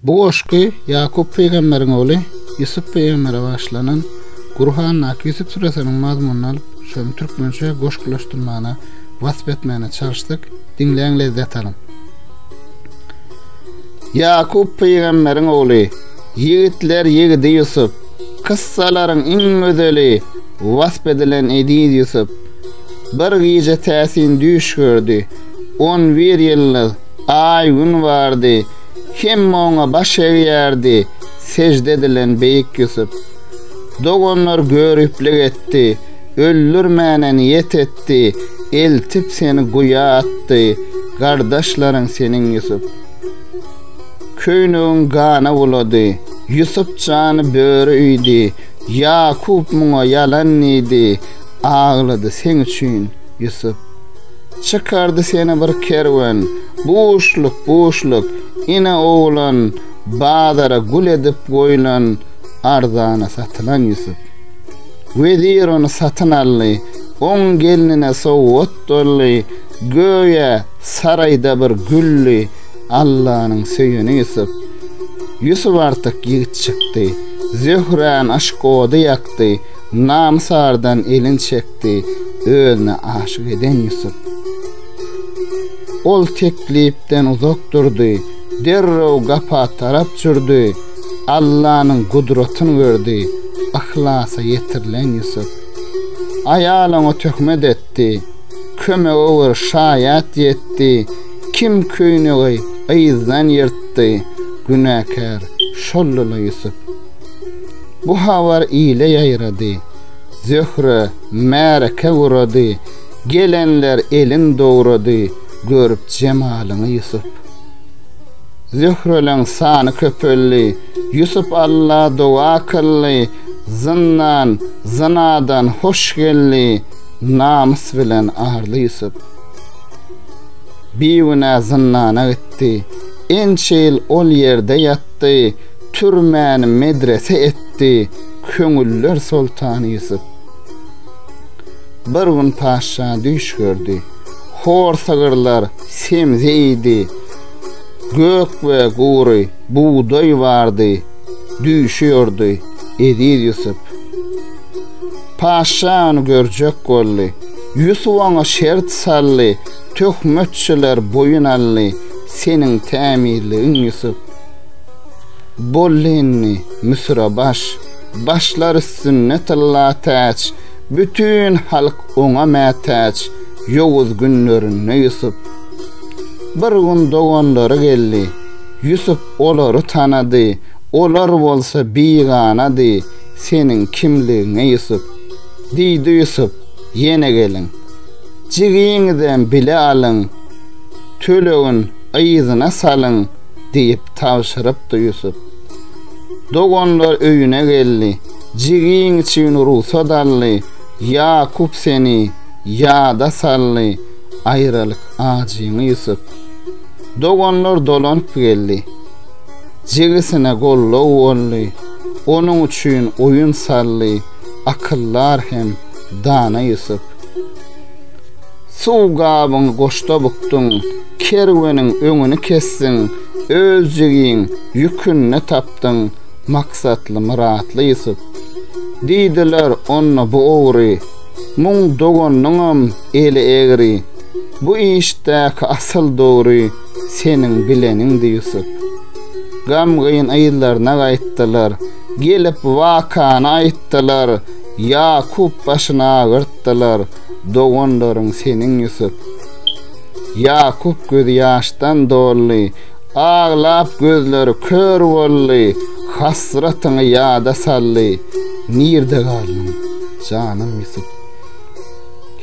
Bu goşgy Ýakup pygamberiň ogly Ýusup pygambere bagyşlanan Gurhandaky Ýusup süresiniň mazmunyny alyp, şony türkmençe goşgulaşdyrmagyna, wasp etmegine çalyşdyk. Diňläň, lezzet alyň! Ýakup pygamberiň ogly, ýigitler ýigidi Ýusup, kyssalaryň iň gözeli, wasp edilen eziz Ýusup. Bir gije täsin düýş gördi. On bir ýyldyz. Aý-Gün bardy. Hemme oňa baş egýärdi, sežde edilen beýik Ýusup. Doganlar göriplik etdi, öldürmäne niýet etdi, eltip seni guýa atdy, gardaşlaryň seniň Ýusup. Köýnegiň gana bulady. Ýusup jany böri iýdi, Ýakup muňa ýalan diýdi, aglady seň üçin, Ýusup. Çykardy seni bir kerwen. Buşluk, buşluk, ine oglan, Bazara gül edip goýlan, Arzana satylan Ýusup. Wezir ony satyn aldy, Oň gelnine sowgat doldy, Göýä, saraýda bir güldi, Allanyň söýeni Ýusup. Ýusup artyk ýigit çykdy, Zöhrän aşk ody ýakdy, Namysardan elin çekdi. etdi. Özüne aşyk eden Ýusup. Ol teklipden uzak durdy. Derrew gapa tarap çürdi. Allanyň gudratyny gördi. Yhlasa ýetirilen Ýusup. Aýal oňa töhmet etdi. Kömege bir şaýat ýetdi. Kim köýnegi yzdan ýyrtdy. Günäkär şoldy-la Ýusup. Bu habar ile ýaýrady. Zöhre märeke gurady, Gelenler elin dogrady, Görüp jemalyňy Ýusup. Zöhreleň sany köpeldi, Ýusup Alla doga kyldy, Zyndan, zynadan hoş geldi, Namys bilen arly Ýusup. Bigünä zyndana gitdi, Ençe ýyl ol ýerde ýatdy, Türmäni medrese etdi, Köňüller soltany Ýusup. Bir gün patyşa düýş gördi. Hor sygyrlar semze iýdi. Gök we gury bugdaý bardy. Düýşi ýordy Eziz Ýusup. Patyşa ony görjek boldy. Ýusup oňa şert saldy. Töhmetçiler boýun aldy. Seniň tämizligiň Ýusup. Bollini, Müsüre baş, Başlar üstünde tylla täç, Bütin halk oňa mätäç, Ýowuz günlerinde Ýusup. Bir gün doganlary geldi, Ýusup olary tanady, Olar bolsa biganady, Seniň kimligiňe Ýusup. Diýdi Ýusup, Ýene geliň, Jigiňizem bile alyň, Tölegin yzyna salyň, diýip tabşyrypdy Ýusup. Doganlar öýüne geldi. Jigiň üçin rugsat aldy. Ýakup seni ýada saldy. Aýralyk ajyňy Ýusup. Doganlar dolanyp geldi. Jigisine goldaw boldy. Onuň üçin oýun saldy. Akyldar hem dana Ýusup. Suw gabyňy goşda bukduň, kerweniň öňüni kesdiň, öz jigiň ýükünde tapdyň maksatly myratly Ýusup. Diýdiler onda bu ogry, muň doganynyňam eli egri, bu işdäki asyl dogry seniň bileniňdi Ýusup. Gamgyn yzlaryna gaýtdylar, gelip wakany aýtdylar, Ýakup başyny agyrtdylar, doganlaryň seniň Ýusup. Ýakup gözi ýaşdan doldy, aglap gözleri kör boldy, hasratyňy ýada saldy, nirde galdyň, janym Ýusup.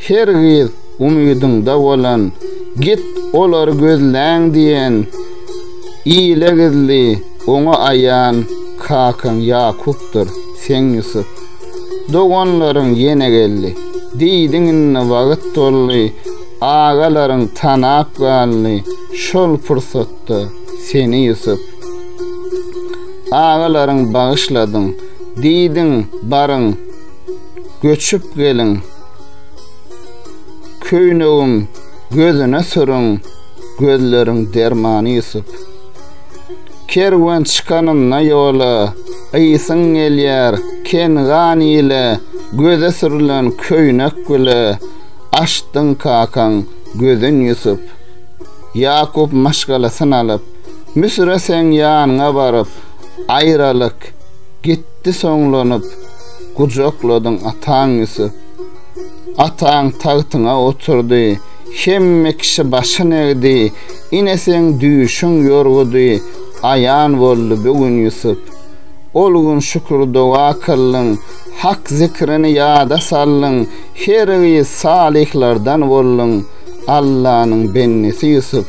Her gyz umydyňda bolan, git olary gözläň diýen, ile gizli, oňa aýan kakaň Ýakupdyr, sen Ýusup. Doganlaryň ýene geldi. Diýdiň indi wagt doldy. Agalaryň tanap galdy. Şol pursatda seni Ýusup. Agalaryň bagyşladyň. Diýdiň baryň. Göçüp geliň. Köýnegim gözüne sürüň. Gözleriň dermany Ýusup. Kerwen çykanynda ýola, Gysyň gelýär, Kengan ile, Göze sürlen köýnek bile, Açdyň kakaň gözün Ýusup. Ýakup maşgalasyn alyp, Müsüre seň ýanyňa baryp, Aýralyk, gitdi soňlanyp, Gujakladyň ataň Ýusup. Ataň tagtyňa oturdy, Hemme kişi başyn egdi, Ine seň düýşüň ýorgudy aýan boldy bu gün Ýusup. Ol gün şükür-doga kyldyň, Hak zikrini ýada saldyň, hergiz salyhlardan bolduň, Allanyň bendesi Ýusup.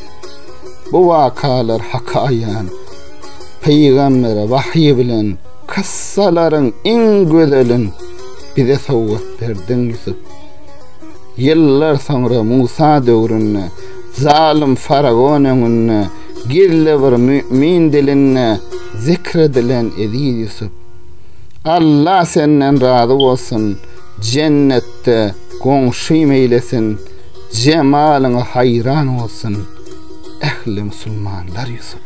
Bu wakalar Haka aýan, pygambere wahýy bilen kyssalaryň iň gözelin bize sowgat berdiň Ýusup. Ýyllar soňra Musa döwründe, Zalym faraon öňünde gizli bir mümin dilinde zikr edilen Eziz Ýusup. Alla senden razy bolsun, jennetde goňşym eýlesin, jemalyňa haýran bolsun ähli musulmanlar Ýusup.